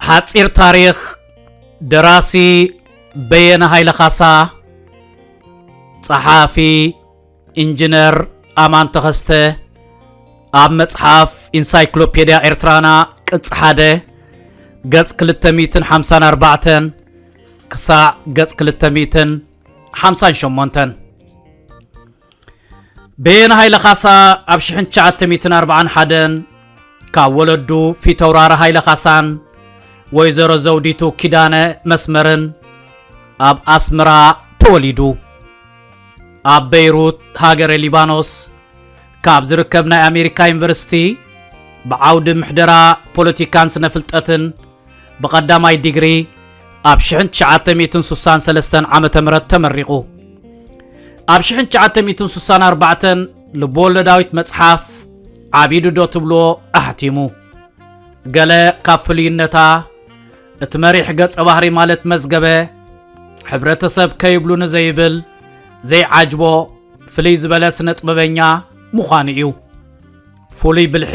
ሓፂር ታሪክ ደራሲ በየነ ሃይለ ካሳ ጸሓፊ ኢንጅነር ኣማን ተኸስተ ኣብ መጽሓፍ ኢንሳይክሎፔድያ ኤርትራና ቅጽ ሓደ ገጽ 254 ክሳዕ ገጽ 258 በየነ ሃይለ ካሳ ኣብ 1941 ካብ ወለዱ ፊተውራሪ ሃይለ ካሳን ወይዘሮ ዘውዲቱ ኪዳነ መስመርን ኣብ ኣስመራ ተወሊዱ ኣብ በይሩት ሃገረ ሊባኖስ ካብ ዝርከብ ናይ ኣሜሪካ ዩኒቨርሲቲ ብዓውዲ ምሕደራ ፖለቲካን ስነ ፍልጠትን ብቐዳማይ ዲግሪ ኣብ 1963 ዓ ም ተመሪቑ ኣብ 1964 ልብወለዳዊት መጽሓፍ ዓቢዱ ዶ ትብሎ ኣሕቲሙ ገለ ካብ ፍልዩነታ እቲ መሪሕ ገጸ ባህሪ ማለት መዝገበ ሕብረተሰብ ከይብሉ ንዘይብል ዘይዓጅቦ ፍልይ ዝበለ ስነ ጥበበኛ ምዃኑ እዩ ፍሉይ ብልሒ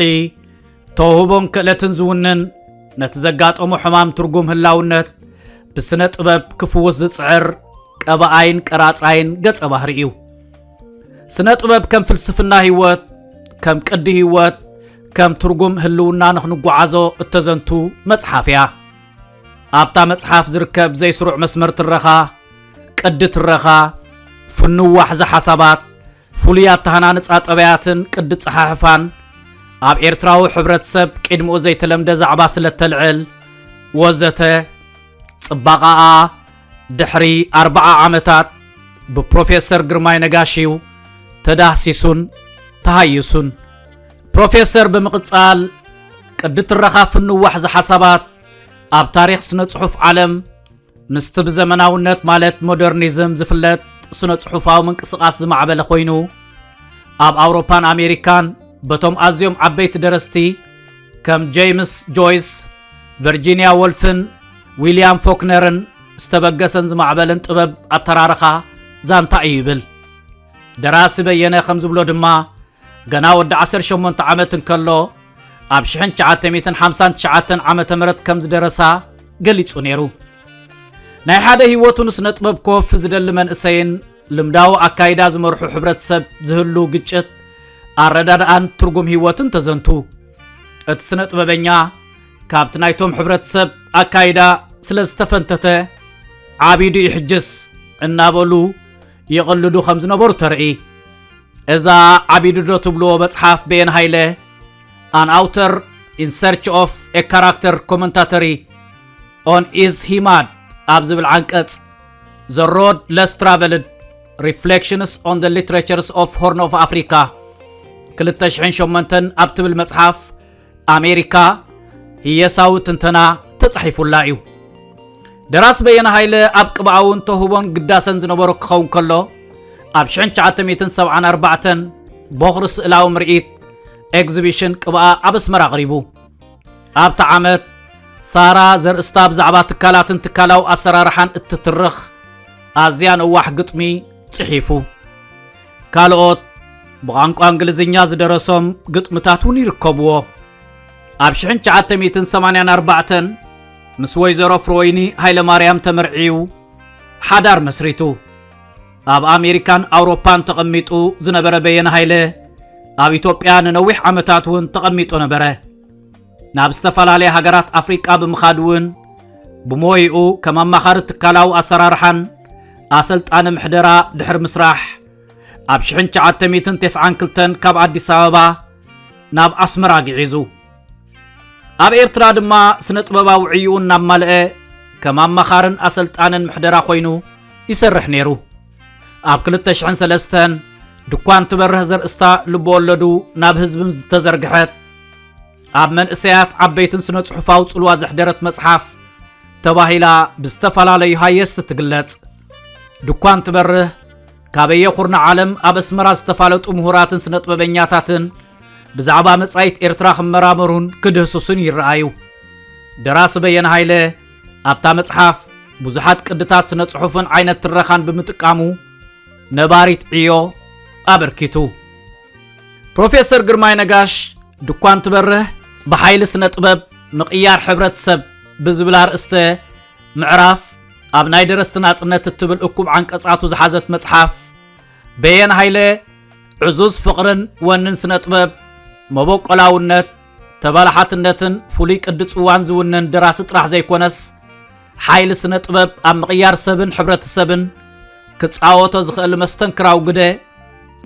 ተውህቦን ክእለትን ዝውንን ነቲ ዘጋጠሞ ሕማም ትርጉም ህላውነት ብስነ ጥበብ ክፍውስ ዝጽዕር ቀባኣይን ቀራጻይን ገጸ ባህሪ እዩ ስነ ጥበብ ከም ፍልስፍና ህይወት ከም ቅዲ ህይወት ከም ትርጉም ህልውና ንኽንጓዓዞ እተዘንቱ መጽሓፍ እያ ኣብታ መጽሓፍ ዝርከብ ዘይስሩዕ መስመር ትረኻ ቅዲ ትረኻ ፍንው ዋሕዚ ሓሳባት ፍሉይ ኣተሃናንጻ ጠበያትን ቅዲ ጸሓሕፋን ኣብ ኤርትራዊ ሕብረተሰብ ቅድሚኡ ዘይተለምደ ዛዕባ ስለ እተልዕል ወዘተ ጽባቐኣ ድሕሪ ኣርብዓ ዓመታት ብፕሮፌሰር ግርማይ ነጋሽዩ ተዳህሲሱን ተሃይሱን። ፕሮፌሰር ብምቕጻል ቅዲ ትረኻ ፍንዋሕ ዝሓሳባት ኣብ ታሪኽ ስነ ጽሑፍ ዓለም ምስቲ ብዘመናውነት ማለት ሞደርኒዝም ዝፍለጥ ስነ ጽሑፋዊ ምንቅስቓስ ዝማዕበለ ኮይኑ ኣብ ኣውሮፓን ኣሜሪካን በቶም ኣዝዮም ዓበይቲ ደረስቲ ከም ጀይምስ ጆይስ ቨርጂንያ ወልፍን ዊልያም ፎክነርን ዝተበገሰን ዝማዕበልን ጥበብ ኣተራርኻ ዛንታ እዩ ይብል። ደራሲ በየነ ከም ዝብሎ ድማ ገና ወዲ 18 ዓመት እንከሎ ኣብ 1959 ዓ ም ከም ዝደረሳ ገሊጹ ነይሩ። ናይ ሓደ ህይወቱ ንስነ ጥበብ ኮፍ ዝደሊ መንእሰይን ልምዳዊ ኣካይዳ ዝመርሑ ሕብረተሰብ ዝህሉ ግጭት ኣረዳድኣን ትርጉም ህይወትን ተዘንቱ እቲ ስነ ጥበበኛ ካብቲ ናይቶም ሕብረተሰብ ኣካይዳ ስለ ዝተፈንተተ ዓቢዱ እዩ ሕጅስ እናበሉ ይቕልዱ ከም ዝነበሩ ተርኢ እዛ ዓቢዱ ዶ ትብሎ መጽሓፍ ቤን ሃይለ ኣን ኣውተር ኢን ሰርች ኦፍ ኤ ካራክተር ኮመንታተሪ ኦን ኢዝ ሂማድ ኣብ ዝብል ዓንቀጽ ዘ ሮድ ለስ ትራቨልድ ሪፍሌክሽንስ ኦን ዘ ሊትሬቸርስ ኦፍ ሆርን ኦፍ ኣፍሪካ 2008 ኣብ ትብል መጽሓፍ ኣሜሪካ ህየሳዊ ትንተና ተጻሒፉላ እዩ። ደራሲ በየነ ሃይለ ኣብ ቅብኣውን ተውህቦን ግዳሰን ዝነበሮ ክኸውን ከሎ ኣብ 1974 ቦኽሪ ስእላዊ ምርኢት ኤግዚቢሽን ቅብኣ ኣብ ኣስመራ ኣቕሪቡ ኣብቲ ዓመት ሳራ ዘርእስታ ብዛዕባ ትካላትን ትካላዊ ኣሰራርሓን እትትርኽ ኣዝያ ነዋሕ ግጥሚ ጽሒፉ ካልኦት ብቋንቋ እንግሊዝኛ ዝደረሶም ግጥምታት እውን ይርከብዎ ኣብ 1984 ምስ ወይዘሮ ፍሮይኒ ሃይለማርያም ተመርዕዩ ሓዳር መስሪቱ ኣብ ኣሜሪካን ኣውሮፓን ተቐሚጡ ዝነበረ በየነ ሃይለ ኣብ ኢትዮጵያ ንነዊሕ ዓመታት እውን ተቐሚጡ ነበረ ናብ ዝተፈላለያ ሃገራት ኣፍሪቃ ብምኻድ እውን ብሞይኡ ከም ኣማኻሪ ትካላዊ ኣሰራርሓን ኣሰልጣኒ ምሕደራ ድሕሪ ምስራሕ ኣብ 1992 ካብ ኣዲስ ኣበባ ናብ ኣስመራ ግዒዙ ኣብ ኤርትራ ድማ ስነ ጥበባዊ ዕይኡ እናማልአ ከም ኣማኻርን ኣሰልጣንን ምሕደራ ኮይኑ ይሰርሕ ነይሩ ኣብ 2003 ድኳን ትበርህ ዘርእስታ ልበወለዱ ናብ ህዝብም ዝተዘርግሐት ኣብ መንእሰያት ዓበይትን ስነ ጽሑፋዊ ጽልዋ ዘሕደረት መጽሓፍ ተባሂላ ብዝተፈላለዩ ሃየስቲ ትግለጽ ድኳን ትበርህ ካበየ ኩርና ዓለም ኣብ ኣስመራ ዝተፋለጡ ምሁራትን ስነ ጥበበኛታትን ብዛዕባ መጻኢት ኤርትራ ክመራመሩን ክድህስሱን ይረኣዩ ደራሲ በየነ ሃይለ ኣብታ መጽሓፍ ብዙሓት ቅድታት ስነ ጽሑፍን ዓይነት ትረኻን ብምጥቃሙ ነባሪት ዕዮ ኣበርኪቱ ፕሮፌሰር ግርማይ ነጋሽ ድኳን ትበርህ ብሓይሊ ስነ ጥበብ ምቕያር ሕብረተሰብ ብዝብል ኣርእስተ ምዕራፍ ኣብ ናይ ደረስቲ ናጽነት እትብል እኩብ ዓንቀጻቱ ዝሓዘት መጽሓፍ በየን ሃይለ ዕዙዝ ፍቕርን ወንን ስነ ጥበብ መበቆላውነት ተበላሓትነትን ፍሉይ ቅዲ ጽዋን ዝውነን ደራሲ ጥራሕ ዘይኮነስ ሓይሊ ስነ ጥበብ ኣብ ምቕያር ሰብን ሕብረተሰብን ክጻወቶ ዝኽእል መስተንክራዊ ግደ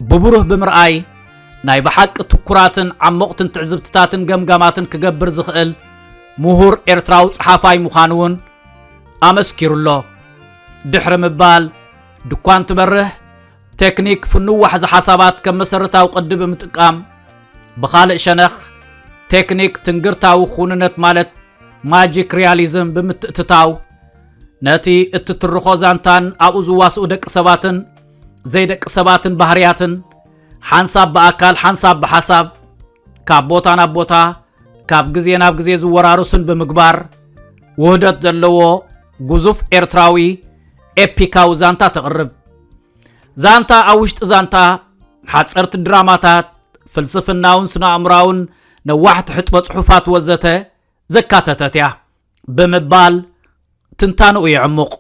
ብብሩህ ብምርኣይ ናይ ብሓቂ ትኩራትን ዓሞቕትን ትዕዝብትታትን ገምጋማትን ክገብር ዝኽእል ምሁር ኤርትራዊ ጸሓፋይ ምዃኑ እውን ኣመስኪሩ ኣሎ ድሕሪ ምባል ድኳን ትበርህ ቴክኒክ ፍኑው ዋሕዚ ሓሳባት ከም መሰረታዊ ቅዲ ብምጥቃም ብኻልእ ሸነኽ ቴክኒክ ትንግርታዊ ኩንነት ማለት ማጂክ ሪያሊዝም ብምትእትታው ነቲ እትትርኾ ዛንታን ኣብኡ ዝዋስኡ ደቂ ሰባትን ዘይደቂ ሰባትን ባህርያትን ሓንሳብ ብኣካል ሓንሳብ ብሓሳብ ካብ ቦታ ናብ ቦታ ካብ ግዜ ናብ ግዜ ዝወራረሱን ብምግባር ውህደት ዘለዎ ግዙፍ ኤርትራዊ ኤፒካዊ ዛንታ ተቕርብ ዛንታ ኣብ ውሽጢ ዛንታ ሓፀርቲ ድራማታት ፍልስፍናውን ስነኣእምራውን ነዋሕቲ ሕጥበ ጽሑፋት ወዘተ ዘካተተት እያ ብምባል ትንታንኡ የዕሙቕ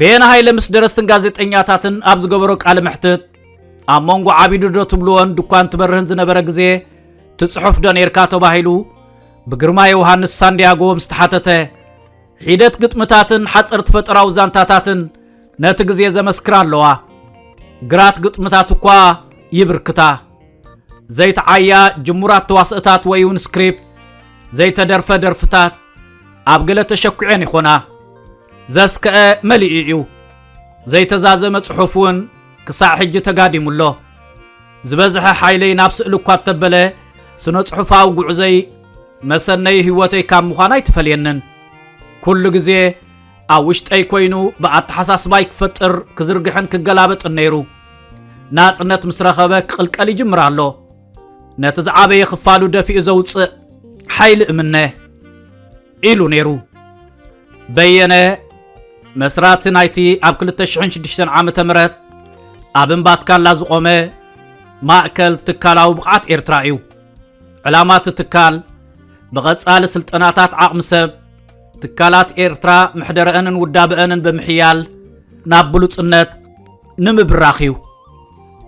ቤን ሃይለ ምስ ደረስትን ጋዜጠኛታትን ኣብ ዝገበሮ ቃለ መሕትት ኣብ መንጎ ዓቢዱ ዶ ትብልዎን ድኳን ትበርህን ዝነበረ ግዜ ትጽሑፍ ዶ ነርካ ተባሂሉ ብግርማ ዮሃንስ ሳንዲያጎ ምስ ተሓተተ ሒደት ግጥምታትን ሓጸርቲ ፈጠራዊ ዛንታታትን ነቲ ግዜ ዘመስክራ ኣለዋ ግራት ግጥምታት እኳ ይብርክታ ዘይተዓያ ጅሙራት ተዋስእታት ወይ እውን ስክሪፕት ዘይተደርፈ ደርፍታት ኣብ ገለ ተሸኲዐን ይኾና ዘስከአ መሊኡ እዩ ዘይተዛዘመ ጽሑፍ እውን ክሳዕ ሕጂ ተጋዲሙ ኣሎ ዝበዝሐ ሓይለይ ናብ ስእሊ እኳ እተበለ ስነ ጽሑፋዊ ጉዕዘይ መሰነይ ህይወተይ ካብ ምዃን ኣይትፈልየንን ኩሉ ግዜ ኣብ ውሽጠይ ኮይኑ ብኣተሓሳስባይ ክፈጥር ክዝርግሕን ክገላበጥን ነይሩ ናጽነት ምስ ረኸበ ክቕልቀል ይጅምር ኣሎ ነቲ ዝዓበየ ክፋሉ ደፊኡ ዘውፅእ ሓይሊ እምነ ኢሉ ነይሩ በየነ መስራቲ ናይቲ ኣብ 2006 ዓ ም ኣብ እምባትካላ ዝቖመ ማእከል ትካላዊ ብቕዓት ኤርትራ እዩ ዕላማ እቲ ትካል ብቐጻሊ ስልጠናታት ዓቕሚ ሰብ ትካላት ኤርትራ ምሕደረአንን ውዳበአንን ብምሕያል ናብ ብሉጽነት ንምብራኽ እዩ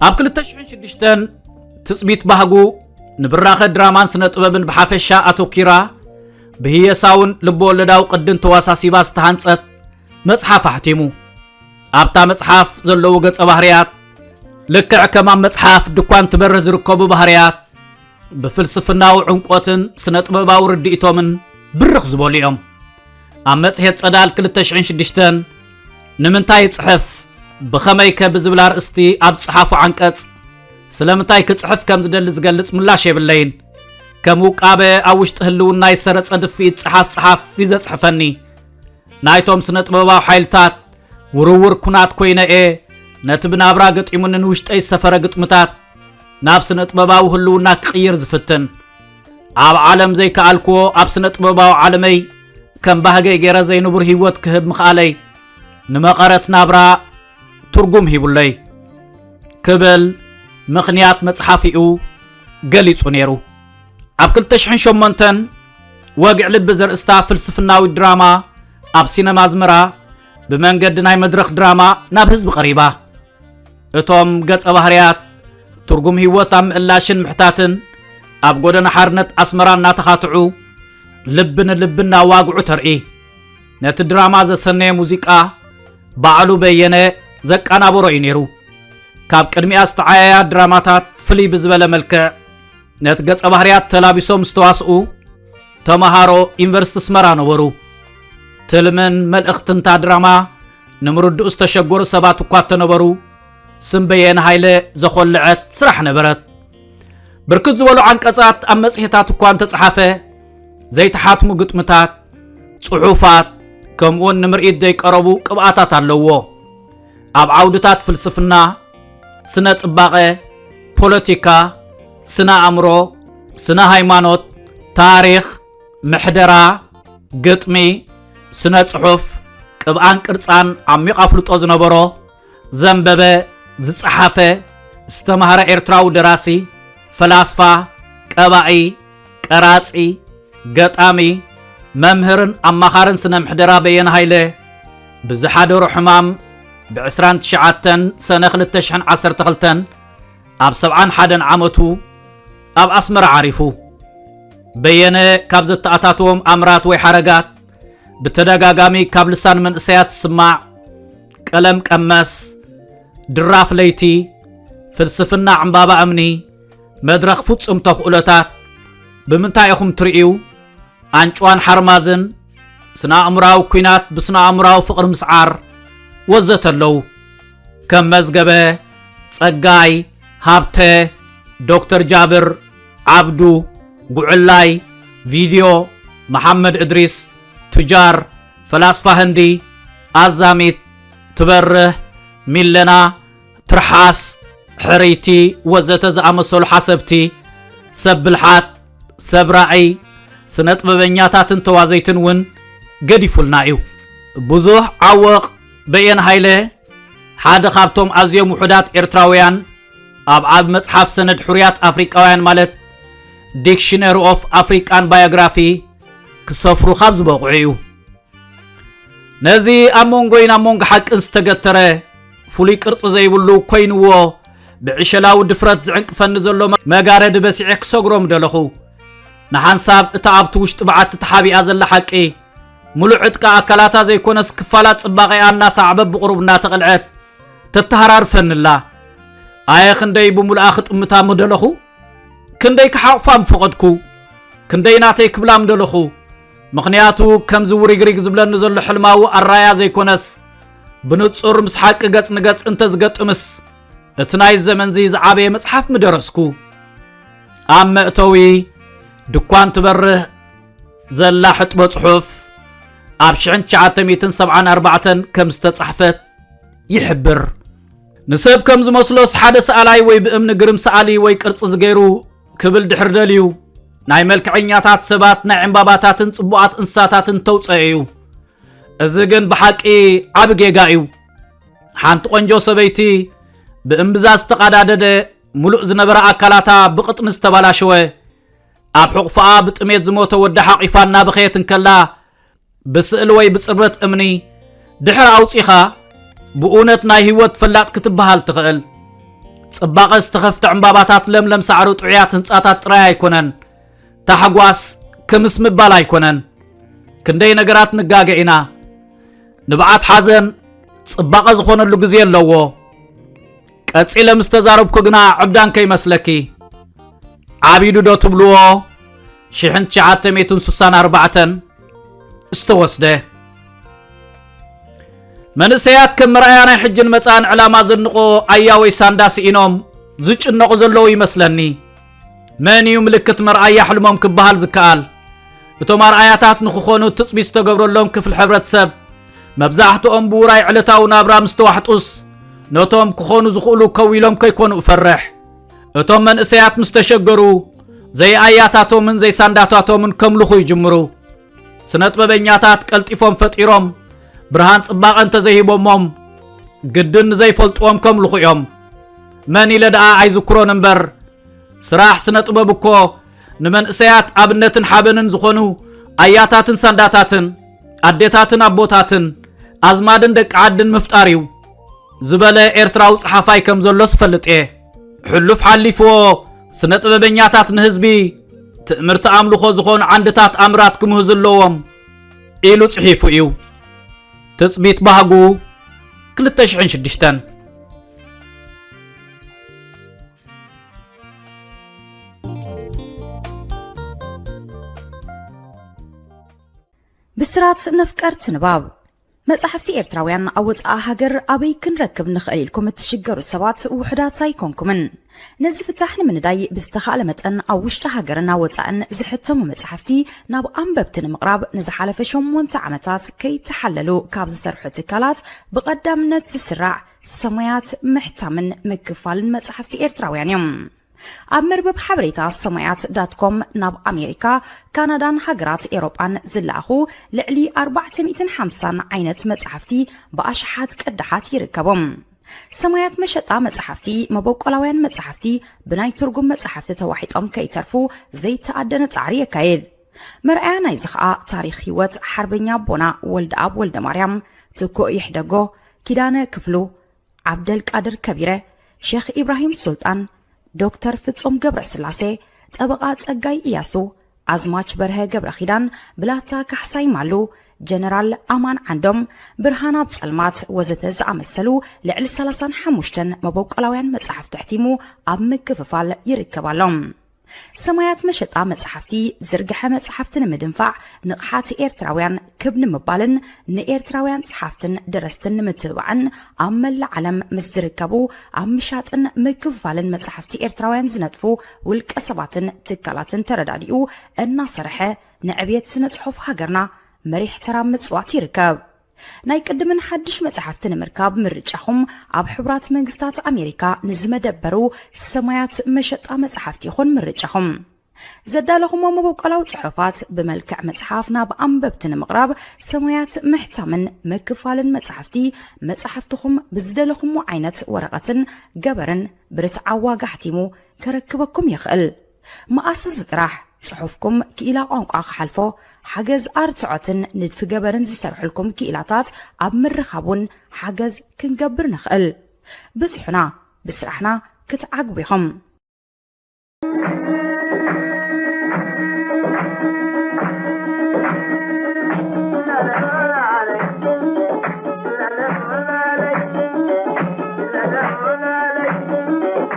ኣብ 2006 ትጽቢት ባህጉ ንብራኸ ድራማን ስነ ጥበብን ብሓፈሻ ኣተኪራ ብህየሳውን ልበወለዳዊ ቅድን ተዋሳሲባ ዝተሃንጸት መጽሓፍ ኣሕቲሙ ኣብታ መጽሓፍ ዘለዉ ገጸ ባህርያት ልክዕ ከም ኣብ መጽሓፍ ድኳን ትበርህ ዝርከቡ ባህርያት ብፍልስፍናዊ ዕምቆትን ስነ ጥበባዊ ርድኢቶምን ብርኽ ዝበሉ እዮም ኣብ መጽሔት ጸዳል 206 ንምንታይ ይጽሕፍ ብኸመይ ከ ብዝብል ኣርእስቲ ኣብ ዝጸሓፉ ዓንቀጽ ስለምንታይ ክጽሕፍ ከም ዝደሊ ዝገልጽ ምላሽ የብለይን ከም ውቃበ ኣብ ውሽጢ ህልውና ይሰረጸ ድፍኢት ጸሓፍ ጸሓፍ እዩ ዘጽሕፈኒ ናይቶም ስነ ጥበባዊ ሓይልታት ውርውር ኩናት ኮይነ እየ ነቲ ብናብራ ገጢሙኒ ንውሽጠይ ዝሰፈረ ግጥምታት ናብ ስነጥበባዊ ህልውና ክቕይር ዝፍትን ኣብ ዓለም ዘይከኣልክዎ ኣብ ስነጥበባዊ ዓለመይ ከም ባህገይ ገይረ ዘይንቡር ህይወት ክህብ ምኽኣለይ ንመቐረት ናብራ ትርጉም ሂቡለይ ክብል ምኽንያት መጽሓፊኡ ገሊጹ ነይሩ ኣብ 2008 ወግዕ ልቢ ዘርእስታ ፍልስፍናዊ ድራማ ኣብ ሲነማ ኣዝመራ ብመንገዲ ናይ መድረኽ ድራማ ናብ ህዝቢ ቀሪባ እቶም ገጸ ባህርያት ትርጉም ህይወት ኣብ ምእላሽን ምሕታትን ኣብ ጎደና ሓርነት ኣስመራ እናተኻትዑ ልቢ ንልቢ እናዋግዑ ተርኢ ነቲ ድራማ ዘሰነየ ሙዚቃ ባዕሉ በየነ ዘቃናበሮ እዩ ነይሩ ካብ ቅድሚኣ ዝተዓያያ ድራማታት ፍልይ ብዝበለ መልክዕ ነቲ ገጸ ባህርያት ተላቢሶም ዝተዋስኡ ተምሃሮ ዩኒቨርስቲ ኣስመራ ነበሩ ትልምን መልእኽትንታ ድራማ ንምርድኡ ዝተሸገሩ ሰባት እኳ እተነበሩ ስም በየነ ሃይለ ዘኾልዐት ስራሕ ነበረት ብርክት ዝበሉ ዓንቀጻት ኣብ መጽሔታት እኳ እንተጸሓፈ ዘይተሓትሙ ግጥምታት ጽሑፋት ከምኡውን ንምርኢት ዘይቀረቡ ቅብኣታት ኣለዎ ኣብ ዓውድታት ፍልስፍና ስነ ጽባቐ ፖለቲካ ስነ ኣእምሮ ስነ ሃይማኖት ታሪኽ ምሕደራ፣ ግጥሚ፣ ስነ ጽሑፍ፣ ቅብኣን ቅርጻን ዓሚቕ ኣፍልጦ ዝነበሮ፣ ዘንበበ፣ ዝጸሓፈ፣ ዝተማህረ ኤርትራዊ ደራሲ፣ ፈላስፋ፣ ቀባኢ፣ ቀራጺ፣ ገጣሚ፣ መምህርን ኣማኻርን ስነ ምሕደራ በየነ ሃይለ ብዝሓደሮ ሕማም ብ29 ሰነ 2012 ኣብ 71 ዓመቱ ኣብ ኣስመራ ዓሪፉ። በየነ ካብ ዘተኣታትዎም ኣምራት ወይ ሓረጋት ብተደጋጋሚ ካብ ልሳን መንእሰያት ዝስማዕ ቀለም ቀመስ፣ ድራፍ ለይቲ፣ ፍልስፍና ዕምባባ እምኒ፣ መድረኽ ፍጹም ተኽእሎታት፣ ብምንታይ ኢኹም ትርእዩ፣ ኣንጭዋን ሓርማዝን፣ ስነ ኣእምራዊ ኩናት ብስነ ኣእምራዊ ፍቕሪ ምስዓር ወዘተ ኣለዉ ከም መዝገበ ጸጋይ ሃብተ ዶክተር ጃብር ዓብዱ ጉዕላይ ቪድዮ መሓመድ እድሪስ ቱጃር ፈላስፋ ህንዲ ኣዛሚት ትበርህ ሚለና ትርሓስ ሕርይቲ ወዘተ ዝኣመሰሉ ሓሰብቲ ሰብ ብልሓት ሰብ ራእይ ስነ ጥበበኛታትን ተዋዘይትን እውን ገዲፉልና እዩ ብዙሕ ዓወቕ በየን ሃይለ ሓደ ካብቶም ኣዝዮም ውሑዳት ኤርትራውያን ኣብ ዓብ መጽሓፍ ሰነድ ሕሩያት ኣፍሪቃውያን ማለት ዲክሽነሪ ኦፍ ኣፍሪቃን ባዮግራፊ ክሰፍሩ ካብ ዝበቑዑ እዩ ነዚ ኣብ መንጎይን ኣብ መንጎ ሓቅን ዝተገተረ ፍሉይ ቅርፂ ዘይብሉ ኮይንዎ ብዕሸላዊ ድፍረት ዝዕንቅፈኒ ዘሎ መጋረዲ በሲዐ ክሰግሮም ደለኹ ንሓንሳብ እታ ኣብቲ ውሽጢ በዓቲ ተሓቢኣ ዘላ ሓቂ ሙሉእ ዕጥቃ ኣካላታ ዘይኮነስ ክፋላት ፅባቐኣ እናሰዓበ ብቕሩብ እናተቐልዐት ተተሃራርፈኒ ኣላ ኣየ ክንደይ ብምሉኣ ክጥምታ ምደለኹ ክንደይ ክሓቑፋ ምፈቐድኩ ክንደይ ናተይ ክብላ ምደለኹ ምኽንያቱ ከምዚ ውሪግሪግ ዝብለኒ ዘሎ ሕልማዊ ኣራያ ዘይኮነስ ብንጹር ምስ ሓቂ ገጽ ንገጽ እንተዝገጥምስ እቲ ናይ ዘመንዚ ዝዓበየ መጽሓፍ ምደረስኩ ኣብ መእተዊ ድኳን ትበርህ ዘላ ሕጥቦ ጽሑፍ ኣብ 1974 ከም ዝተጻሕፈት ይሕብር ንሰብ ከም ዝመስሎስ ሓደ ሰኣላይ ወይ ብእምኒ ግርም ሰኣሊ ወይ ቅርጺ ዝገይሩ ክብል ድሕር ደልዩ ናይ መልክዐኛታት ሰባት ናይ ዕምባባታትን ጽቡቓት እንስሳታትን ተውፀአ እዩ እዚ ግን ብሓቂ ዓብ ጌጋ እዩ ሓንቲ ቆንጆ ሰበይቲ ብእምብዛ ዝተቓዳደደ ሙሉእ ዝነበረ ኣካላታ ብቕጥኒ ዝተባላሸወ ኣብ ሕቑፍኣ ብጥሜት ዝሞተ ወዲ ሓቒፋ እናበኸየት እንከላ ብስእሊ ወይ ብጽርበት እምኒ ድሕሪ ኣውጺኻ ብእውነት ናይ ህይወት ፈላጥ ክትበሃል ትኽእል ጽባቐ ዝተኸፍተ ዕምባባታት ለምለም ሳዕሪ ጥዑያት ህንፃታት ጥራይ ኣይኮነን ታሕጓስ ክምስ ምባል ኣይኮነን ክንደይ ነገራት ንጋገ ኢና ንብዓት ሓዘን ጽባቐ ዝኾነሉ ግዜ ኣለዎ ቀጺለ ምስ ተዛረብኩ ግና ዕብዳን ከይመስለኪ ዓቢዱ ዶ ትብልዎ ሽሕን ትሽዓተ ሜቱን ስሳን ኣርባዕተን ዝተወስደ መንእሰያት ከም መርኣያ ናይ ሕጅን መጻእን ዕላማ ዘንቆ ኣያወይ ሳንዳ ስኢኖም ዝጭነቑ ዘለዉ ይመስለኒ መን እዩ ምልክት መርኣያ ሕልሞም ክበሃል ዝከኣል እቶም ኣርኣያታት ንክኾኑ ትፅቢት ዝተገብረሎም ክፍሊ ሕብረተሰብ መብዛሕትኦም ብውራይ ዕለታዊ ናብራ ምስ ተዋሕጡስ ነቶም ክኾኑ ዝኽእሉ ከው ኢሎም ከይኮኑ እፈርሕ እቶም መንእሰያት ምስ ተሸገሩ ዘይኣያታቶምን ዘይሳንዳታቶምን ከምልኹ ይጅምሩ ስነጥበበኛታት ቀልጢፎም ፈጢሮም ብርሃን ጽባቐ እንተዘይሂቦሞም ግድን ንዘይፈልጥዎም ከምልኹ እዮም መን ኢለ ደኣ ኣይዝክሮን እምበር ስራሕ ስነ ጥበብ እኮ ንመንእሰያት ኣብነትን ሓበንን ዝኾኑ ኣያታትን ሳንዳታትን ኣዴታትን ኣቦታትን ኣዝማድን ደቂ ዓድን ምፍጣር እዩ ዝበለ ኤርትራዊ ጸሓፋይ ከም ዘሎስ እፈልጥ እየ ሕሉፍ ሓሊፍዎ ስነ ጥበበኛታት ንህዝቢ ትእምርቲ ኣምልኾ ዝኾኑ ዓንድታት ኣምራት ክምህዙ ኣለዎም ኢሉ ጽሒፉ እዩ ትጽቢት ባህጉ 2006 ብስራት ነፍቀርቲ ንባብ መጻሕፍቲ ኤርትራውያን ኣብ ወጻኢ ሃገር ኣበይ ክንረክብ ንኽእል ኢልኩም እትሽገሩ ሰባት ውሑዳት ኣይኮንኩምን። ነዚ ፍታሕ ንምንዳይ ብዝተኻእለ መጠን ኣብ ውሽጢ ሃገርን ኣብ ወጻእን ዝሕተሙ መጻሕፍቲ ናብ ኣንበብቲ ንምቕራብ ንዝሓለፈ ሸሞንተ ዓመታት ከይተሓለሉ ካብ ዝሰርሑ ትካላት ብቐዳምነት ዝስራዕ ሰሙያት ምሕታምን ምክፋልን መጻሕፍቲ ኤርትራውያን እዮም። ኣብ መርበብ ሓበሬታ ሰማያት ዳት ኮም ናብ ኣሜሪካ፣ ካናዳን ሃገራት ኤውሮጳን ዝለኣኹ ልዕሊ ኣርባዕተ ሚእትን ሓምሳን ዓይነት መጻሕፍቲ ብኣሽሓት ቅዳሓት ይርከቦም። ሰማያት መሸጣ መጻሕፍቲ መበቆላውያን መጻሕፍቲ ብናይ ትርጉም መጻሕፍቲ ተዋሒጦም ከይተርፉ ዘይተኣደነ ጻዕሪ የካይድ። መርኣያ ናይዚ ከኣ ታሪኽ ህይወት ሓርበኛ ኣቦና ወልደኣብ ወልደማርያም፣ ትኩእ ይሕደጎ፣ ኪዳነ ክፍሉ፣ ዓብደልቃድር ከቢረ፣ ሼኽ ኢብራሂም ሱልጣን፣ ዶክተር ፍጹም ገብረስላሴ፣ ጠበቓ ጸጋይ እያሱ፣ ኣዝማች በርሀ ገብረኺዳን፣ ብላታ ካሕሳይ ማሉ፣ ጀነራል ኣማን ዓንዶም፣ ብርሃን ኣብ ጸልማት ወዘተ ዝኣመሰሉ ልዕሊ ሰላሳን ሓሙሽተን መበቆላውያን መጻሕፍቲ ኣሕቲሙ ኣብ ምክፍፋል ይርከብ ኣሎ። ሰማያት መሸጣ መጽሓፍቲ ዝርግሐ መጽሓፍቲ ንምድንፋዕ ንቕሓት ኤርትራውያን ክብ ንምባልን ንኤርትራውያን ጸሓፍትን ደረስትን ንምትብባዕን ኣብ መላእ ዓለም ምስ ዝርከቡ ኣብ ምሻጥን ምክፍፋልን መጽሓፍቲ ኤርትራውያን ዝነጥፉ ውልቀ ሰባትን ትካላትን ተረዳዲኡ እናሰርሐ ንዕብየት ስነ ጽሑፍ ሃገርና መሪሕ ተራ ምጽዋት ይርከብ። ናይ ቅድምን ሓድሽ መጻሕፍቲ ንምርካብ ምርጫኹም ኣብ ሕቡራት መንግስታት ኣሜሪካ ንዝመደበሩ ሰማያት መሸጣ መጻሕፍቲ ይኹን ምርጫኹም። ዘዳለኹሞ መበቆላዊ ጽሑፋት ብመልክዕ መጽሓፍ ናብ ኣንበብቲ ንምቕራብ ሰማያት ምሕታምን ምክፋልን መጻሕፍቲ መጻሕፍትኹም ብዝደለኹሞ ዓይነት ወረቐትን ገበርን ብርትዓዊ ዋጋ ኣሕቲሙ ከረክበኩም ይኽእል። መኣስስ ጥራሕ ጽሑፍኩም ክኢላ ቋንቋ ክሓልፎ፣ ሓገዝ ኣርትዖትን ንድፊ ገበርን ዝሰርሑልኩም ክኢላታት ኣብ ምርኻብ ውን ሓገዝ ክንገብር ንኽእል። ብጽሑና፣ ብስራሕና ክትዓግቡ ኢኹም።